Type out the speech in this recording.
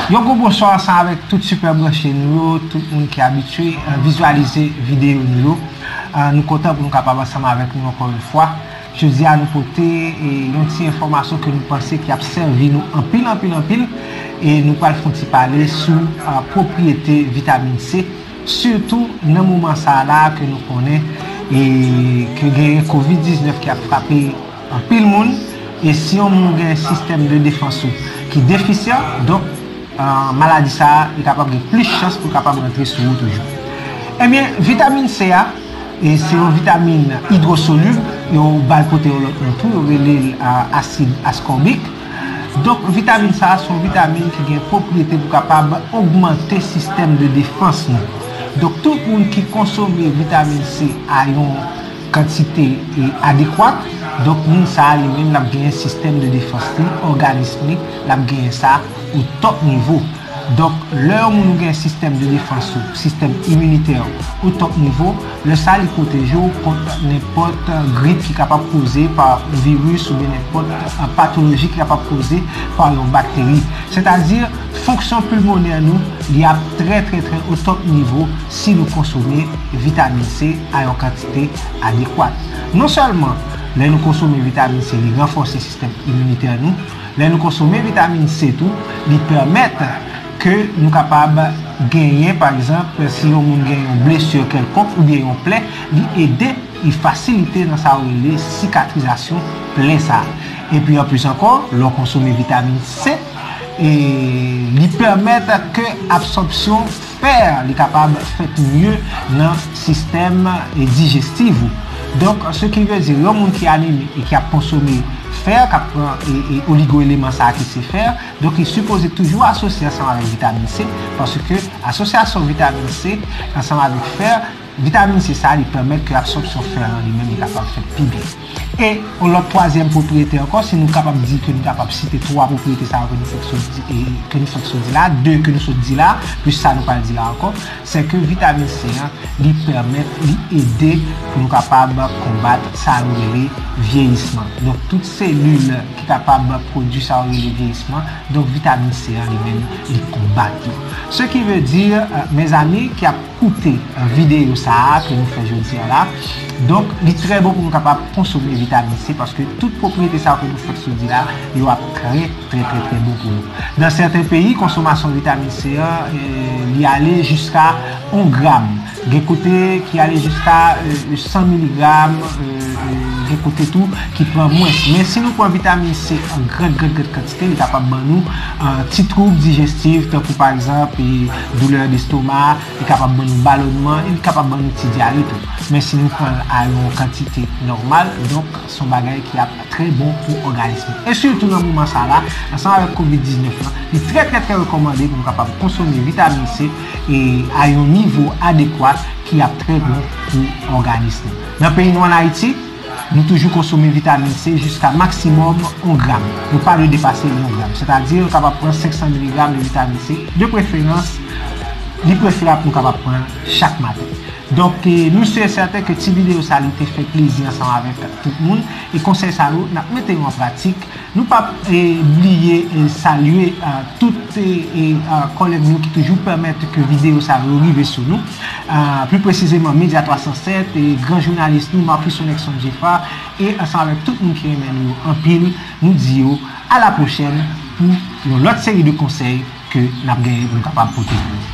Yon gwo bonswa ansanm avèk tout sipè branche nou yo, tout moun ki abitye vizyalize videyo nou yo. Nou kontan pou nou kapab ansanm avèk nou ankò yon fwa. Jodi a nou pote yon ti enfòmasyon ke nou panse ki ap sèvi nou anpil anpil anpil e nou pral fon ti pale sou pwopriyete vitamin C sitou nan moman sa la ke nou konnen e ke genyen covid 19 ki ap frape Anpil moun, e si yon moun gen sistèm de defans ou ki defisyan, donk maladi sa a, li kapab gen plis chans pou l kapab rantre sou ou toujou. Ebyen, vitamin C a, se yon vitamin idwosolib, yo ba l pote yon lòt non tou, yo rele l asid askòbik. Donk vitamin sa a, se yon vitamin ki gen pwopriyete pou kapab ogmante sistèm de defans nou. Donk tout moun ki konsome vitamin C a yon. kantite adekwat, donk moun sa a li menm l ap genyen sistèm de defans li, òganism li, l ap genyen sa o tòp nivo. Donk, lè yon moun ou gen sistèm de defans ou, sistèm iminitè ou, o tòp nivo, lè sa a li pwoteje w kont nenpòt grip ki kapab koze pa yon viris oubyen nenpòt patoloji ki kapab koze pa yon bakteri. Sètadi, fonksyon pilmonè nou li ap trè trè trè o tòp nivo. si nou konsome vitamin C a yon kantite adekwat. Non sèlman lè nou konsome vitamin C li ranfòse sistèm iminitè nou, lè nou konsome vitamin C tou li pèmèt ke nou kapab genyen pa egzanp si yon moun gen yon blesur kèlkonk oubyen yon plè li ede li fasilite nan sa yo rele sikatrizasyon plè sa a. Epi anplis ankò lè w konsome vitamin C li pèmèt ke absòpsyon Pè a li kapab fèt mye nan sistèm dijestiv ou. Donk se ki vle di yon moun ki anemi e ki ap konsome fè, k ap pran oligoeleman sa a ki se fè, donk li sipoze toujou asosye ansanm avèk vitamin C paske asosyasyon vitamin C ansanm avèk fè, Vitamin C sa li pèmèt ke absòpsyon fè an li menm li kapab fèt pi byen. E yon lòt twazyèm pwopriyete ankò, si nou kapab di ke nou kapab site twa pwopriyete sa yo ke nou fèk sot di e ke nou fèk sot di la, de ke nou sot di la, plis sa nou pral di la ankò, se ke vitamin C an li pèmèt, li ede pou nou kapab konbat sa nou rele vyeyisman. Donk tout selil ki kapab pwodui sa yo rele vyeyisman, donk vitamin C an li menm li konbat yo. Se ki ve di, mezanmi ki ap. koute videyo sa a ke nou fè jodi a la. Donk, li trè bon pou nou kapab konsome vitamin C paske tout pwopriyete sa yo ke nou fèk sou di la, yo ap trè, trè, trè, trè bon pou nou. Nan sèten peyi, konsomasyon vitamin C an, li ale jiska 1 gram. Gen kote ki ale jiska 100 miligram, gen kote tou ki pran mwens. Men, si nou pran vitamin C an gran, gran, gran kantite, li kapab ban nou ti twoub dijestif, tankou pa egzanp, Doulè destoma, li kapab ban nou balònman e li kapab ban nou ti dyare tou. Men si nou pran l a yon kantite nòmal, donk se yon bagay ki ap trè bon pou òganis nou. E sitou nan moman sa la, ansanm avèk kovid 19 lan, li trè trè trè rekòmande pou nou kapab konsome vitamin C a yon nivo adekwat ki ap trè bon pou òganis nou. Nan peyi nou an Ayiti. Nou toujou konsome vitamin C jiska maksimòm 1 gram. Nou pa dwe depase 1 gram. Sètadi nou kapab pran 500 miligram de vitamin C. De preferans, li prefèrab nou kapab pran chak maten. Donk, nou si e sèten ke ti videyo sa li te fè plezi ansanm avèk tout moun. E konsèy sa yo, n ap mete yo an pratik. Nou pap bliye salye tout kòlèg nou ki toujou pèmèt ke videyo sa yo rive sou nou. Pli presizeman Media 307, gran jounalis nou Marcus Sonexon Geffrard e ansanm avèk tout moun ki renmen nou yo anpil, nou di yo a la pwochèn pou yon lòt seri de konsèy ke nap genyen pou nou kapab pote pou ou.